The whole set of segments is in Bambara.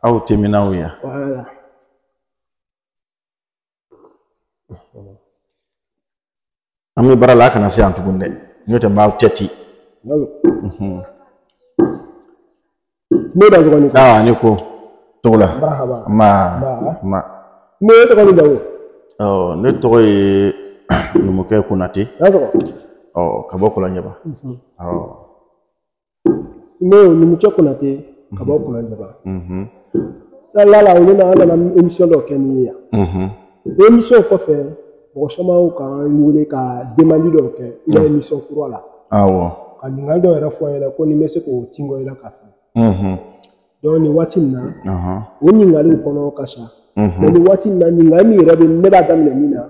aw tɛmɛna yan an bɛ baara la a kana se yan tuguni dɛ n'o tɛ n b'aw tɛ ten i dansɔgɔ i ni ko aa i ni ko Togola marahaba ma ne tɔgɔ ni dawo ɔ ne tɔgɔ ye numukɛ konate ka bɔ kɔlɔnjɛba awɔ n'o numukɛ konate ka bɔ kɔlɔnjɛba salila la olu na an nana emisiyɔn dɔ kɛ n'i ye yan emisiyɔn kɔfɛ mɔgɔ caman u ka n wele ka demandi dɔw kɛ i ka emisiyɔn kura la ka ɲininkali dɔw yɛrɛ fɔ n ɲɛna ko ni n bɛ se k'o tingo i la ka filɛ donc nin waati nin na o ɲininkaliw kɔnɔ ka ca mɛ nin waati nin na ɲininkali min yɛrɛ bɛ ne b'a daminɛ min na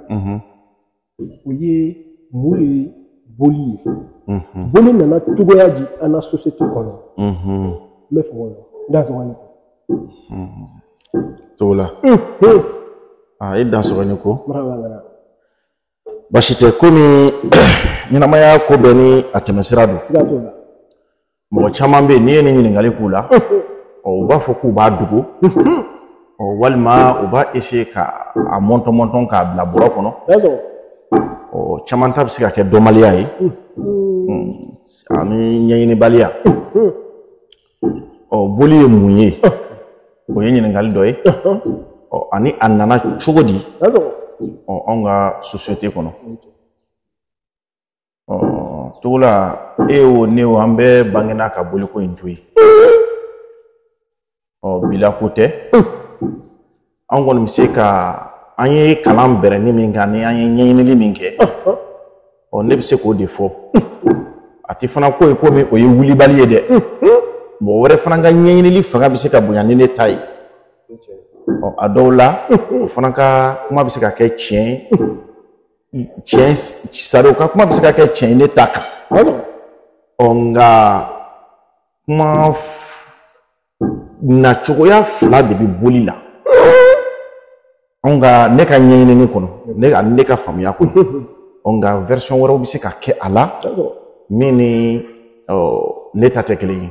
o ye mun de ye boli ye boli nana cogoya di an ka sosiyete kɔnɔ n b'i fo o la i dansɔgɔ Togola i dansɔgɔ i ni ko basi tɛ komi ɲɛnamaya ko bɛɛ ni a tɛmɛsira don mɔgɔ caman bɛ yen n'i ye nin ɲininkali k'u la u b'a fɔ k'u b'a dogo walima u b'a eseye k'a mɔntɔn mɔntɔn k'a bila bɔrɔ kɔnɔ caman ta bɛ se ka kɛ dɔnbaliya ye ani ɲɛɲinibaliya ɔ boli ye mun ye o ye ɲininkali dɔ ye ani a nana cogo di anw ka sosiyete kɔnɔ Togola e wo ne wo an bɛɛ bangena ka boliko in to yen ɔ bi la ko tɛ an kɔni bɛ se ka an ye kalan bɛrɛni min kɛ ani an ye ɲɛɲinili min kɛ ɔ ne bɛ se k'o de fɔ a tɛ fana ko ye komi o ye wulibali ye dɛ mɔgɔ wɛrɛ fana ka ɲɛɲinili fanga bɛ se ka bonya ni ne ta ye ɔ a dɔw la o fana ka kuma bɛ se ka kɛ tiɲɛ ye tiɲɛ sari o ka kuma bɛ se ka kɛ tiɲɛ ye ne ta kan ɔ nka kuma nacogoya fila de bɛ boli la anw ka ne ka ɲɛɲinini kɔnɔ ne ka ne ka faamuya kɔnɔ ɔ nka version wɛrɛw bɛ se ka kɛ a la min ni ne ta tɛ kelen ye